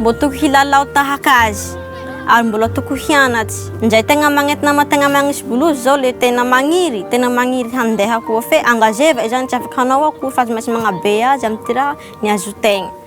Mbola tokony hilalao tahaka azy ary mbola tokony hianatsy. Njay tegna magnentina ma tegna magnisy bolozy zao le tena magniry, tena magniry handeha koa fe engageva izany tsy afaka hanao akory fa aza maintsy magnabe azy am ty raha ny azotegna.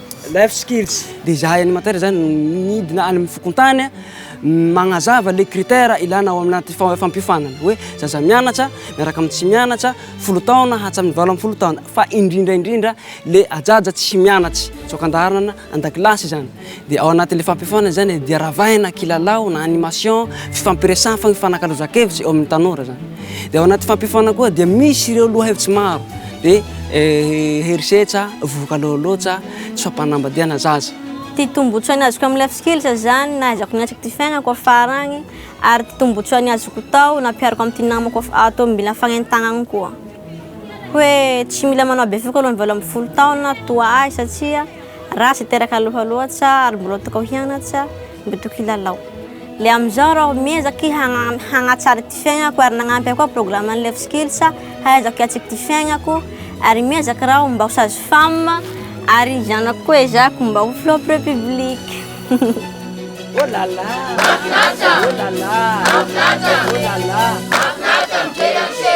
Life skills dia izahay animateur izany midina any amin'ny fokontany magnazava le critère ilana ao amin'anaty fampiofanana hoe zaza mianatra miaraka amin'ny tsy mianatra folo taona hatramin'ny valo ambin'ny folo taona fa indrindra indrindra le ajaja tsy mianatra tsoaka andaharana an-dakilasy izany dia ao anatin'le fampiofanana izany dia ravaina kilalao na animation fifampiresahana fa mifanakalozan-kevitra eo amin'ny tanora izany dia ao anaty fampiofanana koa dia misy ireo lohahevitsy maro Dia herisetra, vohoka loaloatra, tsy fampanambadiana zaza. Ity tombotsoany azoko amin'ny life skills izany, nahaizako niatrika ity fiainako afara agny, ary ity tombotsoany azoko tao nampihariko amin'ity namako af- ato amin'ny bila fagnentagnagny koa. Hoe tsy mila manao bevoka alohan'ny valo ambin'ny folo taona toa ahy satria raha tsy teraka aloha loatra ary mbola tokao hianatra, Mba tokony hilalao. Le amizao raho miezaka i hagnatsara ity fiaignako ary nagnampy ahy koa programme ny Life Skills hahaizako hiatsy ity fiaignako ary miezaka raho mba ho sage femme ary zanako koa ezahiko mba ho flop republique. Oh la la! Mahafinaritra! Oh la la! Mahafinaritra! Oh la la! Mahafinaritra mijery an'ise!